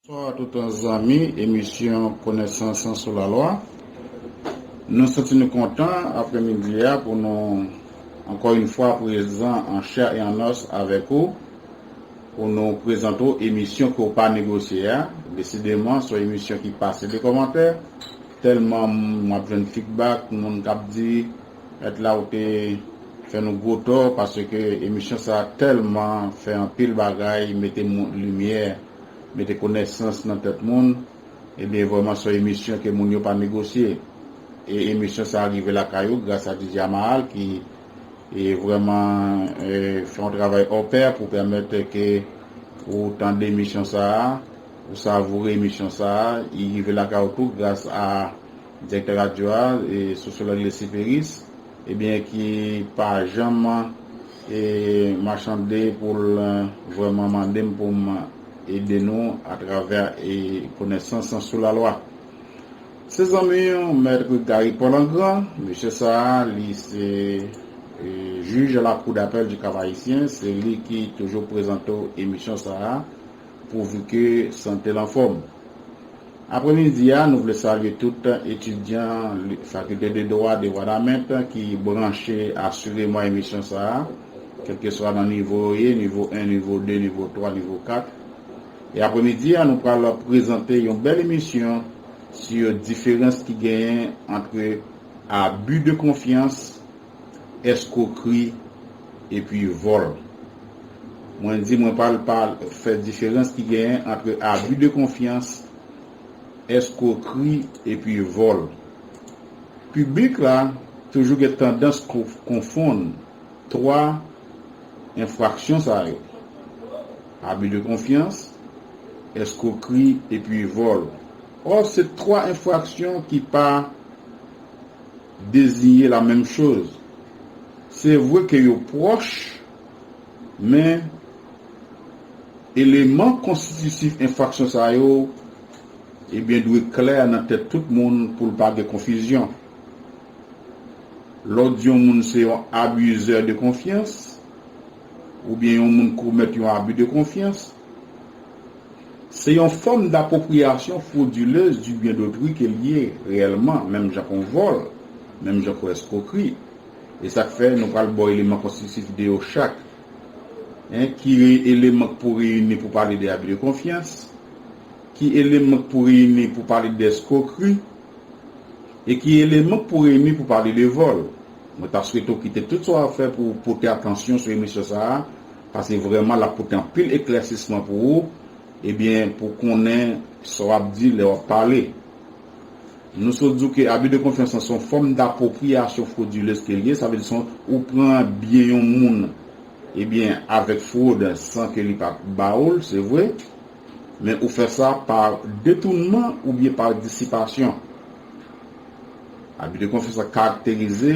Bonswa toutan zanmi emisyon konesans sou la lwa nou santi nou kontan aprè midi a pou nou ankò yn fwa prezan an chè e an os avèk ou pou nou prezante w emisyon ke w pa negosye a desideman son emisyon ki pase de kòmantè tèlman map jwenn fidbak moun kap di mèt la ou te fè nou gwo tò paske emisyon sa tèlman fè anpil bagay mete limyè mete konesans nan tèt moun ebyen vrèman son emisyon ke moun yo pa negosye e emisyon sa rive lakay ou gras a DJ Amahal ki vrèman fè yon travay hors pair pou pèmèt ke ou tande emisyon sa ou savoure emisyon sa li rive lakay ou tou gras a direktè radyo a Sociologue Lesy Peris. Ebyen ki pa janm machande pou l vrèman mande m pou m ede nou atravè konesans lan sou lalwa. Se zanmi w Maître Gary Paul an gran, mesye sa a li se Juge à la Cour d'Appel du Cap-Haïtien, se li ki toujou prezante w emisyon sa a pouvu ke sante l anfòm. Apremidi a, nou vle salye tout etidyan Fakilte de Dwa de Wanament ki branche asireman emisyon sa a, kèlkeswa nan nivo yo ye, nivo 1, nivo 2, nivo 3, nivo 4. E apremidi a, nou pral prezante yon bèl emisyon su diferans ki genyen antre abus de confiance, eskrokri epi vòl. Mwen di mwen pral fè diferans ki genyen antre abi de konfyans, eskrokri epi vòl. Piblik la toujou gen tandans konfonn 3 enfraksyon sa yo, abi de konfyans, eskrokri epi vòl. Ò se 3 enfraksyon ki pa. deziyen la menm choz. Se vre ke yo pwòch, men eleman konstitisif enfraksyon sa yo ebyen dwe klè nan tèt tout moun pou l pa gen konfizyon. Lè w di yon moun se yon abuseur de confiance oubyen yon moun komèt yon abus de confiance, Se yon fòm dapwopriyasyon fwodilez di byen dotri ke l ye reyèlman, menm jan kon vòl, menm jan kon eskwokri. E sa k fè nou pral ba w eleman konstitif de yo chak. Hein, ki eleman k pou reyini pou pale de abi de konfyans? Ki eleman k pou reyini pou pale de eskwokri? E ki eleman k pou reyini pou pale de vòl? Mwen ta swete w kite tout sa w ap fè pou w pote atansyon sou emisyon sa a, Pase vrèman lap pote anpil eklèsisman pou ou ebyen pou konnen sa wap di lè wap pale. Nou sot di w ke abi de konfyans lan se yon fòm dapwopriyasyon fwodilez ke li ye sa vle di se yon ou pran byen yon moun ebyen avèk fwod san ke li pat ba ou l se vre men ou fè sa pa detounman oubyen pa disipasyon. Abi de konfyans la karakterize.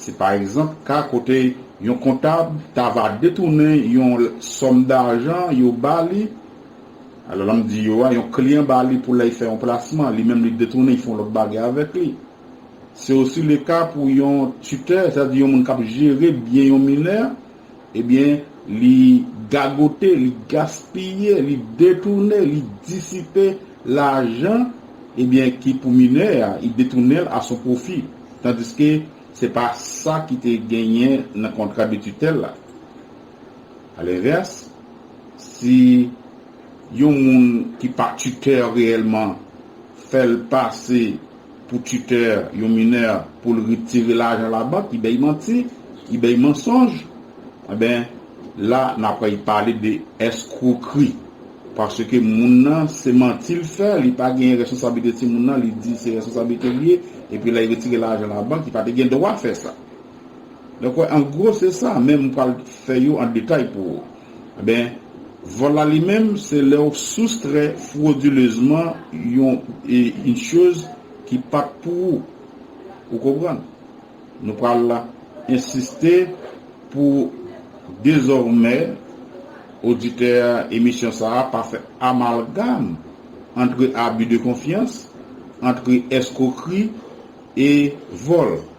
Se pa egzanp ka kote yon kontab ta va detounen yon sòm dajan yo ba li, alò lè m di yo a, yon kliyan ba li pou lè y fè yon plasman, li menm li detounen, y fè yon lòt bagay avèk li. Se osi le ka pou yon titè, sa di yon moun k ap jere byen yon minè, ebyen li gagote, li gaspiye, li detounen, li disipe Lajan ebyen ki pou minè a i detounenl a son pwofi tandiske se pa sa ki te genyen nan kontra de tutèl la. A lenvès si yon moun ki pa tutè reyèlman fèl pase. pou titè yon minè pou l retire lajan labank li bay manti, li bay mansonj, enben la n ap pale de èskwokri paske moun nan se manti l fè, li pa genyen reskonsablite timoun nan li di se reskonsablite l ye epi lè y retire lajan labank li pa te gen dwa fè sa. Donk wè an gwo se sa men m pral fè yo an detay pou ou. Enben, vòl la li menm, se lè ou soustrè fwodilezman yon yn choz ki pat pou ou. Ou konprann? Nou pral ensiste pou dezòmè oditè emisyon sa a pa fè amalgam antre abi de konfyans, antre èskwokri e vòl.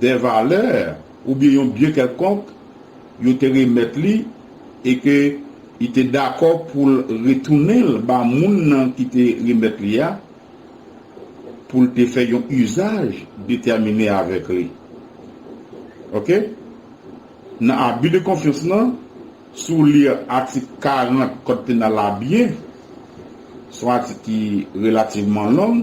dè valè oubyen yon byen kèlkonk yo te remèt li e ke li te dakò pou l retounen l ba moun nan ki te remèt li a pou l te fè yon izaj detèmine avèk li. Ok. Nan abi de konfyans lan, si w li atik 40 Kòd Penal la byen, s on atik ki relativman long,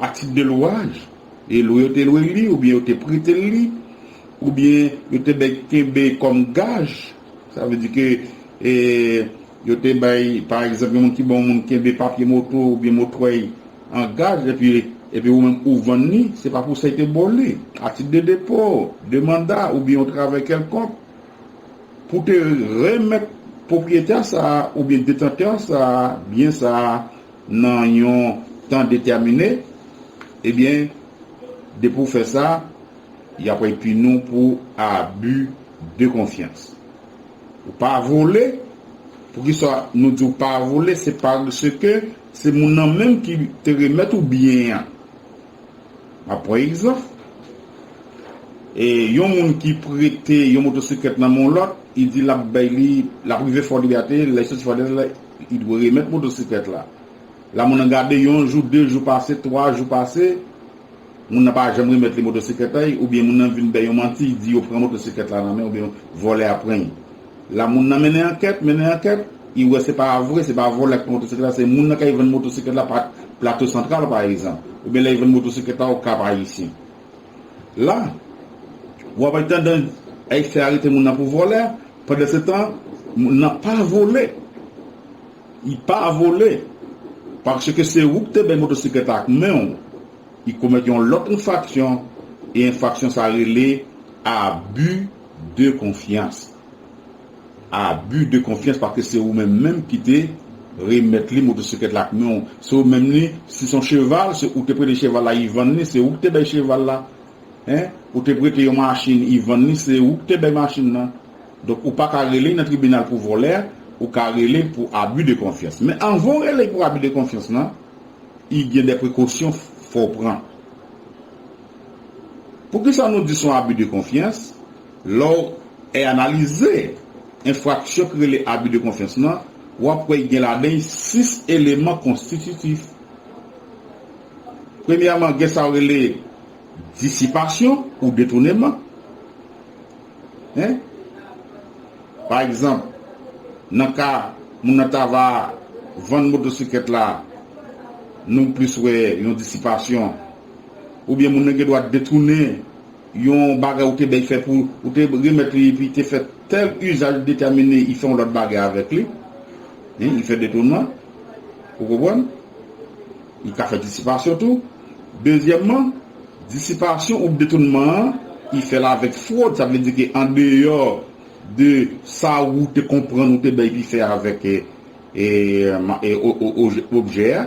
A tit de lwaj, e lwe yo te lwe li oubyen yo te prete l li, oubyen yo te bay kenbe kòm gaj, sa vle di ke yo te bay pa egzanp yon moun ki ba yon moun kenbe papye moto oubyen motwèy an gaj epi epi ou menm ou vann li, se pa pou sa yo te ba w li. A tit de depo, de manda oubyen yon travay kèlkonk, pou te remèt pwopriyetè sa a oubyen detantè sa a, byen sa a, nan yon tan detèmine, ebyen depi w fè sa, y ap pini w pou abi de konfyans. Ou pa vole, poukisa nou di w pa vole, se paske se moun nan menm ki te remèt ou byen an. M ap pran egzanp, yon moun ki prete yon motosiklèt nan men yon lòt, li di l ap bay li, l ap rive Fort Liberté, lè li soti Fort Liberté la. Li dwe remèt motosiklèt la. La moun nan gade yon jou, de jou pase, twa jou pase, moun nan pa janm remèt li motosiklèt la y, oubyen moun nan vin bay yon manti, di yo pran motosiklèt la nan men, oubyen vòlè a pran y. La moun nan mennen ankèt, mennen ankèt, y wè se pa vre, se pa vòlè k pran motosiklèt la, se moun nan kay vann motosiklèt la pa Plato Santral pa egzanp, oubyen lè y vann motosiklèt la Okap Ayisyen. La, w ap atandan y fè arete moun nan pou vòlè, pandansetan moun nan pa vole. Li pa vole. Paske se ou ki te bay motosiklèt la ak men w. Li komèt yon lòt enfraksyon e enfraksyon sa rele abi de konfyans. Abus de confiance paske se ou menm menm ki te remèt li motosiklèt la ak men w, se ou menm li, si son cheval se ou te prete cheval la Yvan li, se ou ki te bay cheval la hein, ou te prete yon machin Yvan li se ou ki te bay machin nan. Donk ou paka rele nan tribinal pou vòlè, ou ka rele pou abus de confiance. Men anvan w rele pou abus de confiance lan, y gen dè prekosyon fò w pran. Poukisa nou di son abus de confiance? Lè w è analize enfraksyon ki rele abi de konfyans lan, w ap wè y gen ladan y sis eleman konstititif. Premyèman, gen sa yo rele disipasyon ou detouneman. Ii. Pa egzanp, nan ka moun nan ta va vann motosiklèt la, nou plis wè yon disipasyon, oubyen moun nan gen dwa detounen. Yon bagay ou te bèy fè pou ou te remèt li epi te fè tèl usaj detèmine i fè yon lòt bagay avèk li hein i fè detounman ou konprann i ka fè disipasyon tou dezyèmman disipasyon oubyen detounman an i fèl avèk frod sa vle di ke andeyò de sa ou te konprann ou te bèy li fè avèk e e objè a.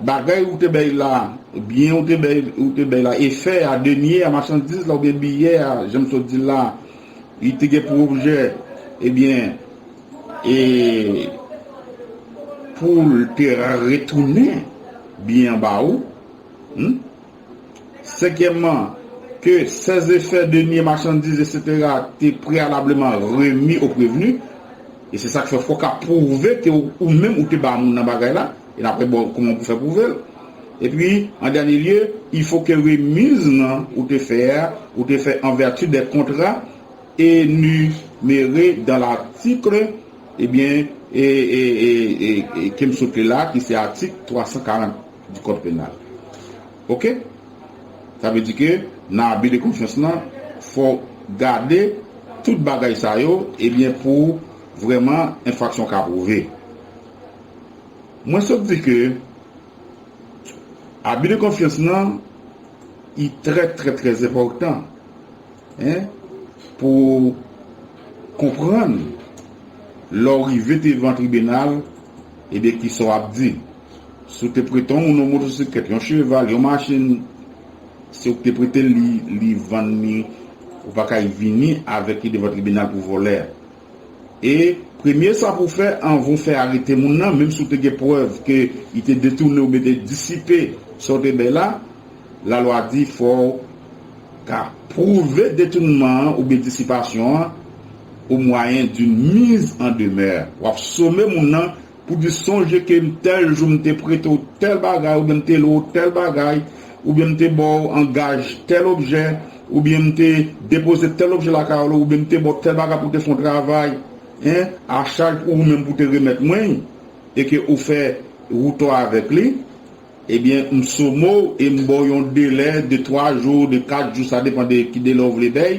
Bagay ou te bay la, byen ou te bay, ou te bay la, efè a, denier a, machandiz la oubyen biyè a, jan m sot di l la, li te gen pou objè, ebyen, e, pou l te retounen byen an ba ou, hum. Senkyèmman, ke sè zefè, deniye, machandiz, eksetera, te preyalableman remi o prevni, e se sa k fè fò w ka pwouve ke ou menm ou te ba moun nan bagay la, e n ap gade bon kouman pou fè pwouve l. Epi, an dènye lye, ilfo ke remiz nan ou te fè a, ou te fè an vèti dè kontra enumere dan latikl, ebyen, e, e, e, e, e, ke m sot li la, ki se atik 340. du code pénal ok sa vle di ke nan abus de confiance lan fò gade tout bagay sa yo ebyen pou vrèman enfraksyon ka prouve mwen sot di ke abus de confiance lan li trè trè trè enpòtan hein pou konprann lè w rive devan tribunal ebyen kisa w ap di. Si w te prete yon moun yon motosiklèt, yon cheval, yon machin, se ou ki te prete l li, li vann li, ou pa kay vini avèk li devan tribinal pou vòlè. E, premye sa pou w fè anvan ou fè arete moun nan, menm si ou te gen prèv ke li te detounen oubyen te disipe sa ou te bay la, lalwa di fò w ka pwouve detounman an oubyen disipasyon an o mwayen d'une mise en demeure. W ap some moun nan Pou di sonje ke m tèl jou m te prete w tèl bagay oubyen m te lwe w tèl bagay oubyen m te ba w an gaj tèl objè oubyen m te depoze tèl objè lakay w oubyen m te ba w tèl bagay pou w te fè yon travay en a chaj pou ou menm pou w te remèt mwen li e ke ou fè ou tò avèk li ebyen m somo w e m ba w yon delè de twa jou de kat jou sa depan de ki delè ou vle bay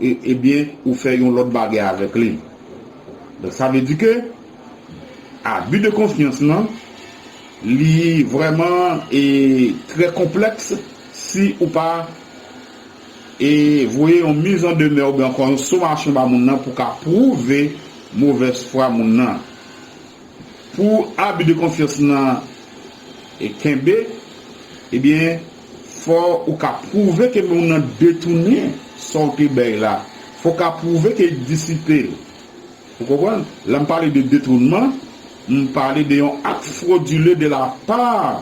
Ebyen ou fè yon lòt bagay avèk li. Donk sa vle di ke abi de konfyans lan li vrèman e trè konplèks si ou pa e voye yon miz an demè oubyen ankò yon somasyon ba moun nan pou ka pwouve movèz fwa moun nan. Pou abi de konfyans lan e kenbe ebyen. Fò ou ka pwouve ke moun nan detounen sa w te bay la. Fò w ka pwouve ke li disipe l. Ou konprann? Lè m pale de detounman, m pale de yon ak fwodile de la pa,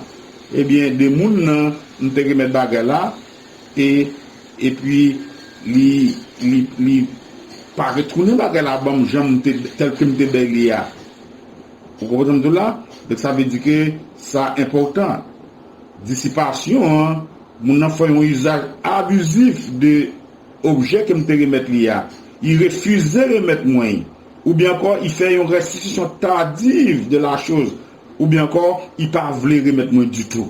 ebyen, de moun nan m te remèt bagay la, e, epi li, li, li pa retounen bagay la ban m jan m te, tèl ke m te bay li a. Ou konprann sa m di w la? Donk sa vle di ke sa enpòtan. Disipasyon an, Moun nan fè yon izaj abizif de objè ke m te remèt li a. I refize remèt mwen i. Oubyen ankò, i fè yon restitisyon tardive de la chose. Oubyen ankò, i pa vle remèt mwen ditou.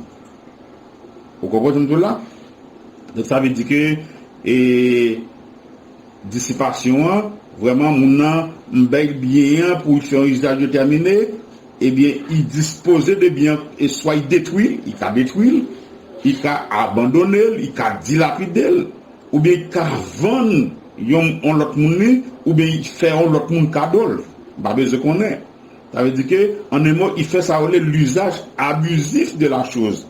Ou konprann sa m di w la? Donk sa vle di ke e disipasyon an, vrèman moun nan m bay l byen an pou l fè yon izaj detèmine. Ebyen i dispoze de byen an e swa i detwi l, i ka detwi l, i ka abandone l, i ka dilapide l, oubyen i ka vann yon on lòt moun li, oubyen i fè on lòt moun kado l. M pa bezwen konnen. Sa vle di ke an un mot i fè sa yo rele l'usage abusif de la chose.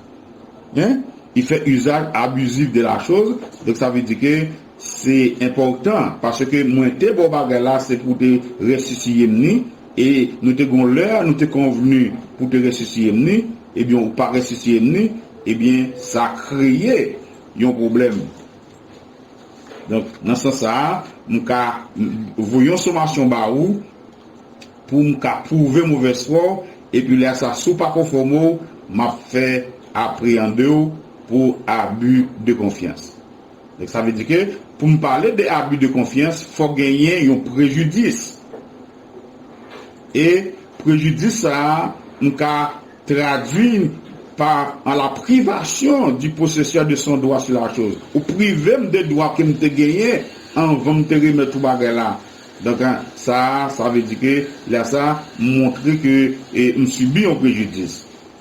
Hein? I fè usage abusif de la chose, donk sa vle di ke Se enpòtan paske mwen te ba w bagay la se pou w te resisiye m ni, e nou te gen yon lè nou te konvni pou w te resisiye m ni, ebyen ou pa resisiye m ni, ebyen sa kreye yon pwoblèm. Donk, nan sans sa a, m ka voye yon somasyon ba ou pou m ka pwouve movèz fwa w, epi lè sa si w pa konfòme w, m ap fè apreyande w pou abi de konfyans. Donk sa vle di ke pou m pale de abus de confiance fòk genyen yon prejidis e prejidis sa a m ka tradui pa an la privation du possesseur de son droit sur la chose. Ou prive m de dwa ke m te genyen anvan m te remèt ou bagay la. Donk sa a sa vle di ke lè sa a m montre ke m sibi yon prejidis.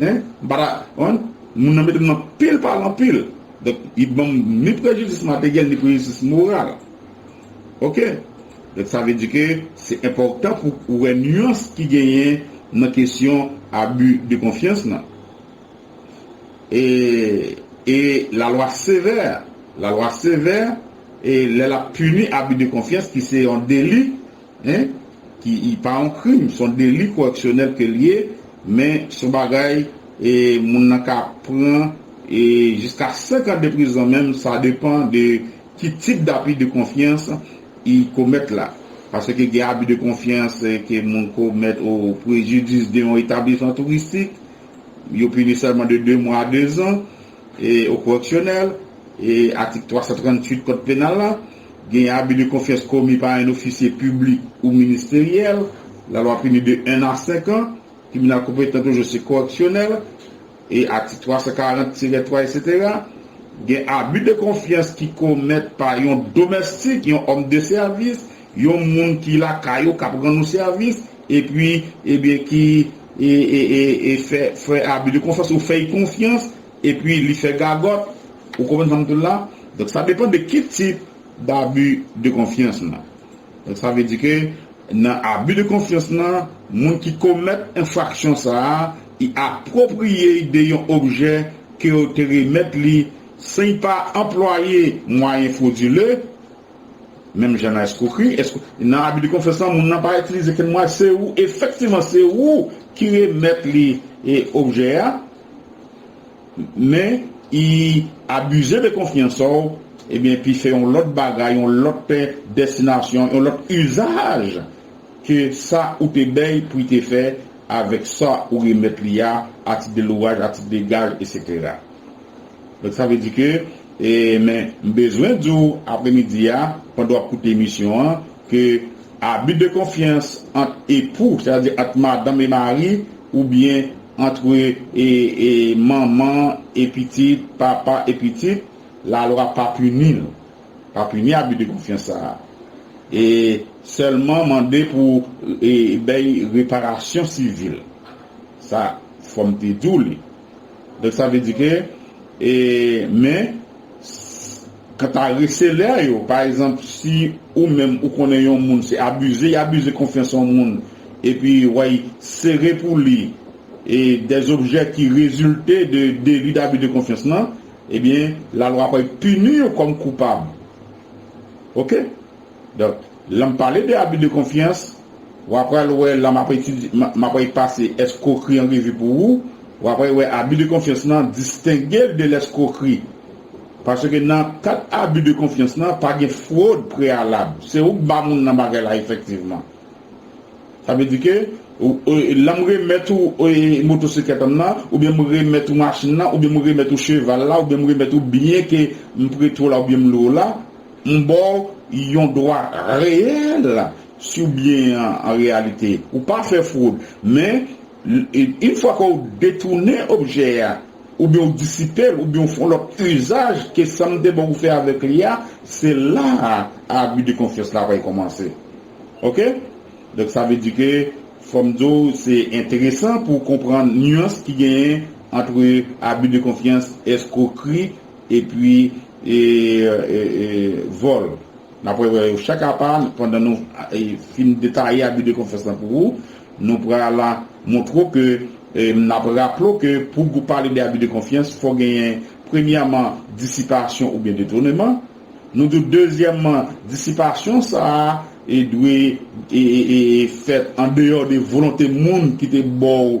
Hein m pa ta konprann Moun nan mete m nan pil pal anpil Donk li banm ni prejidis materyèl ni prejidis moral Ok Donk sa vle di ke se enpòtan pou ou wè nuans ki genyen nan kesyon abi de konfyans lan E e lalwa sevè Lalwa sevè e lè l ap pini abi de konfyans ki se yon deli Hein? Ki pa yon krim, son deli koreksyonèl ke l ye, men son bagay e moun nan ka pran e jiska 5 an de prizon menm sa depan de ki tip d'abus de confiance i komèt la. Paske gen abus de confiance ke moun komèt o prejidis de yon etablisman touristik, yo pini sèlman de 2 mwa a 2 zan. Au correctionnel, Atik 338 Kòd Penal la, Gen abi de konfyans komi pa en ofisye piblik ou ministeryèl, lalwa pini de 1 a 5 an, tribinal konpetan toujou se koreksyonèl, Atik 340 tirè 3 eksetera, Gen abi de konfyans ki komèt pa yon domèstik, yon òm de sèvis, Yon moun ki lakay ou kap rann ou sèvis epi ebyen ki fè abi de konfyans ou fèy konfyans epi li fè gagòt ou konprann sam di la donk sa depan de ki tip dabi de konfyans nan donk sa vle di ke nan abi de konfyans nan moun ki komèt enfraksyon sa i apwopriyey de yon objè kew te remèt li san'y pa anplwaye mwayen fwodile. Menm jan nan eskwokri, nan abi de konfyans lan moun nan pa itilize kenn mwayen, se ou efektivman se ou ki remèt li objè a, men i abize de konfyans sa w, ebyen epi fè yon lòt bagay, yon lòt destinasyon, yon lòt izaj ke sa ou te bay pou i te fè avèk sa ou remèt li a, atit de lwaj, atit de gaj, eksetera. Donk sa vle di ke e men m bezwen di w apremidi a pandan w ap koute emisyon an ke abi de konfyans ant epou sa vle di ant madanm e mari oubyen antre e e manman e pitit, papa e pitit lalwa pa pini l pa pini abi de konfyans sa a e sèlman mande pou e bèy reparasyon sivil sa fò m te di w li. Donk sa vle di ke e men kanta reselè yo pa egzanp si ou menm ou konnen yon moun se abize y abize konfyans yon moun epi way sere pou li e dè objè ki rezilte de deli dabi de konfyans lan ebyen lalwa pral pini yo kòm koupab ok donk. Lèm pale de abi de konfyans, wa pral wè la map etidye map wè pase eskrokri an revi pou ou, wa pral wè abi de konfyans lan distengel de lèskrokri. Paske nan kat abi de konfyans lan pa gen fwod preyalab, se ouk ba moun lan bagay la efektivman. Sa vle di ke lèm remèt ou motosiklèt an nan, oubyen m remèt ou machin lan, oubyen m remèt ou cheval la, oubyen m remèt ou byen ke m prete w la oubyen m lwe w la, M ba w yon dwa reyèl si w byen an an reyalite. Ou pa fè fwod. Men, yn fwa ke w detounen objè a, oubyen w disipe l, oubyen w fè yon lòt uzaj ke sa m te ba w fè avèk li a, se la a abi de konfyans la pral kòmanse. Ok? Donk sa vle di ke fò m di w se enteresan pou w konprann nuance ki genyen antre abi de konfyans, eskrokri, Epi vol. Nap wè wè yo chak apa pandan nou fin detaye abi de konfyans lan pou ou. Nou pral montre w ke nap raple w ke pou gou pale de abi de konfyans fò genyen premyèman disipasyon oubyen detoneman. Nou di w dezyèmman disipasyon sa a dwe fèt andeyò de volonte moun ki te ba w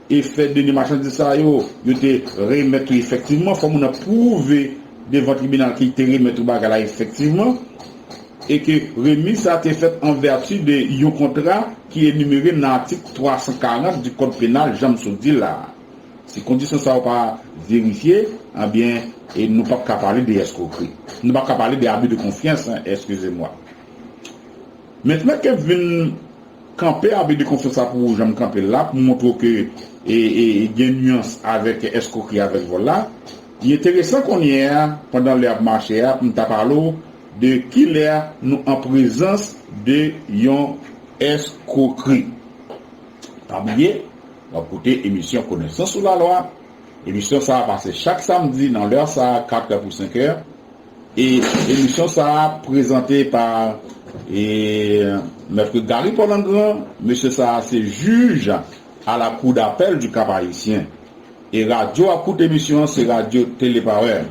Efè done machandiz sa yo, yo te remèt ou efektivman, fò moun nan pwouve devan tribinal ke li te remèt ou bagay la efektivman, e ke remiz sa a te fèt an vèti de yon kontra ki enimere nan atik 340 di kòd penal jan m sot di la a. Si kondisyon sa yo pa verifye, anbyen, e nou pap ka pale de eskrokri. Nou pap ka pale de abi de konfyans, eskize mwa. Mentnan ke m vin. Kanpe abus de confiance la pou ou janm kanpe l la pou montre w ke gen nuans avèk escroquerie avèk vòl la. Li enteresan konnye a pandan lè ap mache a pou m ta pale w de kilè nou an prezans de yon escroquerie. Pa bliye w ap koute emisyon Konesans sou lalwa. Emisyon sa a pase chak samdi nan lè sa a, 4 è pou 5 è. E emisyon sa a prezante pa e Maitre Gary Polangran, mesye sa a se jij a la kou dapèl du Kap Ayisyen. E radyo a kout emisyon an se radyo Tele Parè.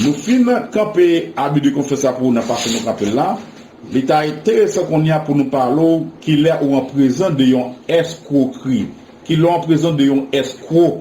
Nou fin kanpe abi de konfyans sa pou ou nan fason nou kanpe l la, li ta enteresan kounye a pou nou pale w kilè ou an prezan de yon eskwokri, kilè w an prezan de yon eskwo.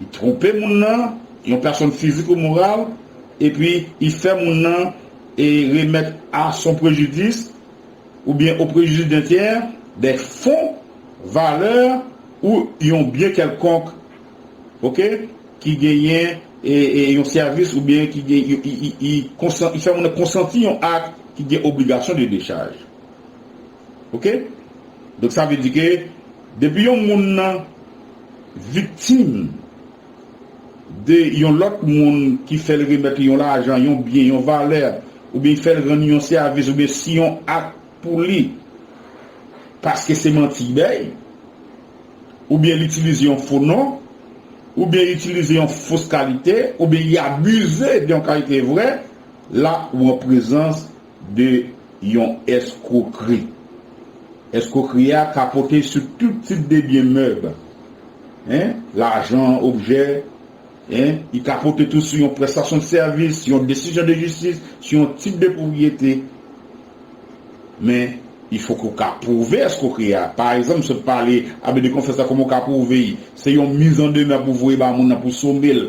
Li twonpe moun nan, yon pèsonn fizik ou moral, epi li fè moun nan e remèt a son prejidis oubyen o prejidis d'un tiers dè fon, valè ou yon byen kèlkonk ok ki genyen e yon sèvis oubyen ki gen li fè moun nan konsanti yon ak ki gen obligasyon de dechaj. ok donk sa vle di ke depi yon moun nan viktim de yon lòt moun ki fèl remèt li yon lajan yon byen yon valè oubyen li fèl ranni yon sèvis oubyen si yon ak pou li paske se manti li bay oubyen li itilize yon fo non oubyen li itilize yon fos kalite oubyen li abize de yon kalite vrè la ou an prezans de yon èskwokri. Èskwokri a ka pote sou tout tip de byen mèb, en, lajan, objè, en, li ka pote tou sou yon prestasyon de sèvis, yon desizyon de jistis, sou yon tit de pwopriyete. Men, li fòk ou ka pwouve èskwokri a. Pa egzanp, sot pale, abus de confiance la kòman ou ka pwouve li? Se yon miz an demè pou voye ba moun nan pou some l,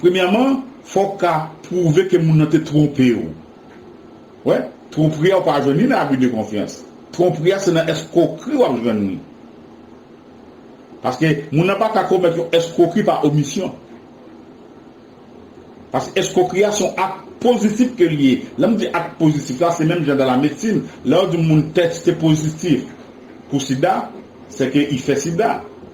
Premyèman, fò w ka pwouve ke moun nan te twonpe w. Wè, twonpri a ou pa jwenn ni nan abi de konfyans. Twonpri a se nan èskwokri w ap jwenn li. Paske moun nan pa ka komèt yon èskwokri pa omisyon. Paske èskwokri a se yon ak pozitif ke li ye. Lè m di ak pozitif la, se menm jan dan la medsin, lè yo di moun tèste pozitif pou sida, sè ke i fè sida.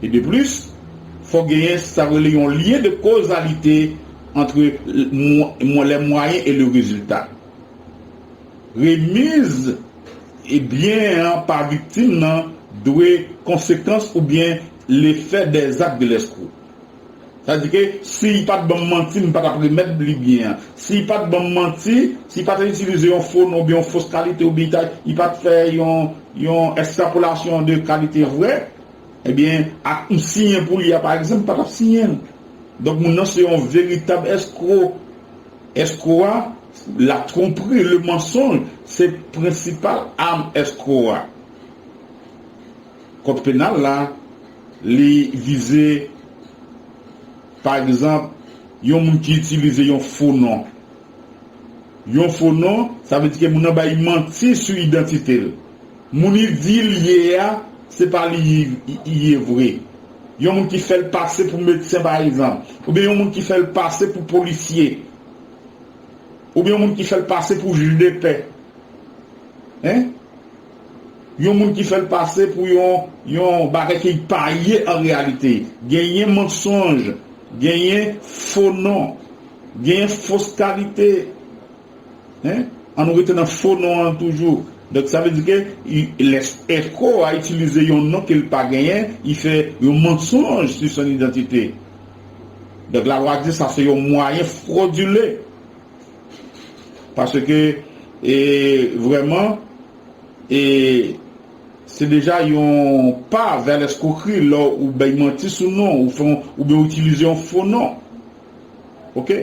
E de plis, fòk genyen sa yo rele yon lyen de kozalite antre les moyens et le résultat. Remiz byen an pa viktim nan dwe konsekans oubyen lefè dè zak de lèskrou. Sa di ke si y pa t ban m manti, m pa t ap remèt li byen an. Si y pa t ban m manti, si y pa t itilize yon fo non oubyen yon fos kalite oubyen y pa t fè yon ekstrapolasyon de kalite vrè, ebyen ak m siyen pou li a pa egzanp, m pa t ap siyen l. Donk moun nan se yon veritab èskro. Èskro a, la twonpri, le mensonge, se prensipal am èskro a. Kòd penal la, li vize pa egzanp yon moun ki itilize yon fo non. Yon fo non, sa vle di ke moun nan bay manti sou idantite l. Moun li di li ye a, se pa li li ye vre. Yon moun ki fè l pase pou medsen pa egzanp, oubyen yon moun ki fè l pase pou polisye, oubyen yon moun ki fè l pase pou jij de pè. Hein? Yon moun ki fè l pase pou yon yon bagay ke li pa ye an reyalite. Genyen mansonj, genyen fo non, genyen fos kalite. Hein? An nou rete nan fo non an toujou. Donk sa vle di ke lè Eko a itilize yon non ke l pa genyen, li fè yon mansonj sou son idantite. Donk lalwa di sa se yon mwayen fwodile. Paske e vrèman e se deja yon pa vè lèskwokri lè ou bay manti sou non ou fon oubyen ou itilize yon fo non. Ok.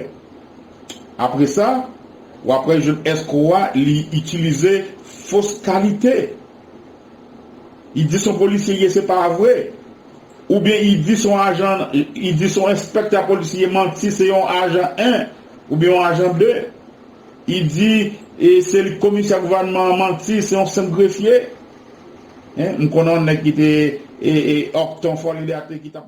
Apre sa, w ap wè jèn èskwo a li itilize fos kalite. Li di son polisye ye se pa vre, Ou byen i di son ajan i di son enspektè polis li ye manti se yon ajan 1 ou byen yon ajan 2 i di e se li komisè gouvanman an manti se yon senp grefye en m konnen yon nèg ki te e e òk ton fòlidate ki tap